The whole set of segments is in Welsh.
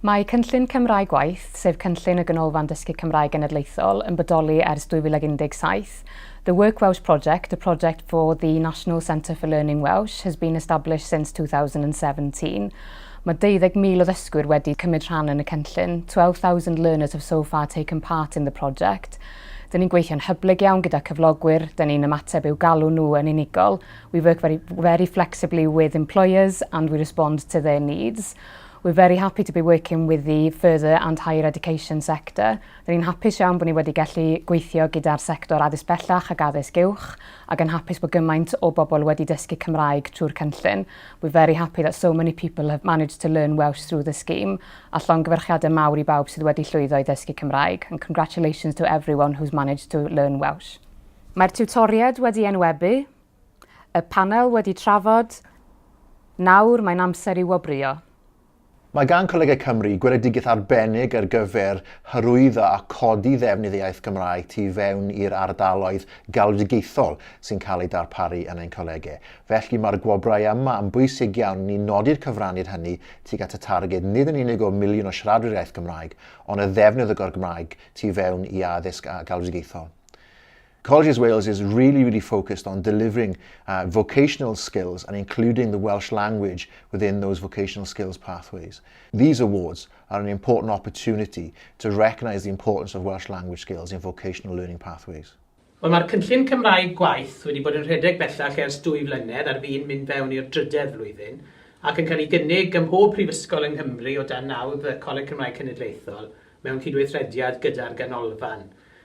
Mae Cynllun Cymraeg Gwaith, sef cynllun y Ganolfan Dysgu Cymraeg Genedlaethol, yn bodoli ers 2017. The Work Welsh Project, a project for the National Centre for Learning Welsh, has been established since 2017. Mae 20,000 o ddysgwyr wedi cymryd rhan yn y cynllun. 12,000 learners have so far taken part in the project. Dyn ni'n gweithio'n hyblyg iawn gyda cyflogwyr, dyn ni'n ymateb i'w galw nhw yn unigol, We work very, very flexibly with employers and we respond to their needs. We're very happy to be working with the further and higher education sector. Rwy'n ni'n hapus iawn bod ni wedi gallu gweithio gyda'r sector addysg bellach ac addysg uwch ac yn hapus bod gymaint o bobl wedi dysgu Cymraeg trwy'r cynllun. We're very happy that so many people have managed to learn Welsh through the scheme a llongyfarchiadau mawr i bawb sydd wedi llwyddo i ddysgu Cymraeg and congratulations to everyone who's managed to learn Welsh. Mae'r tiwtoriaid wedi enwebu, y panel wedi trafod, nawr mae'n amser i wobrwyo. Mae gan Colegau Cymru gweledigaeth arbennig ar gyfer hyrwyddo a codi ddefnydd y iaith Gymraeg tu fewn i'r ardaloedd galwedigaethol sy'n cael eu darparu yn ein colegau. Felly, mae'r gwobrau yma yn bwysig iawn i ni nodi'r cyfraniad hynny tuag at y targed nid yn unig o miliwn o siaradwyr iaith Gymraeg, ond y ddefnydd o Gymraeg tu fewn i addysg galwedigaethol. Colleges Wales is really, really focused on delivering uh, vocational skills and including the Welsh language within those vocational skills pathways. These awards are an important opportunity to recognise the importance of Welsh language skills in vocational learning pathways. Wel, mae'r cynllun Cymraeg gwaith wedi bod yn rhedeg bellach ers dwy flynedd ar fin mynd fewn i'r drydedd flwyddyn ac yn cael ei gynnig ym mhob prifysgol yng Nghymru o dan nawdd y Coleg Cymraeg Cenedlaethol mewn cydweithrediad gyda'r ganolfan.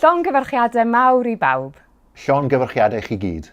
Llongyfarchiadau mawr i bawb. Llongyfarchiadau i chi gyd.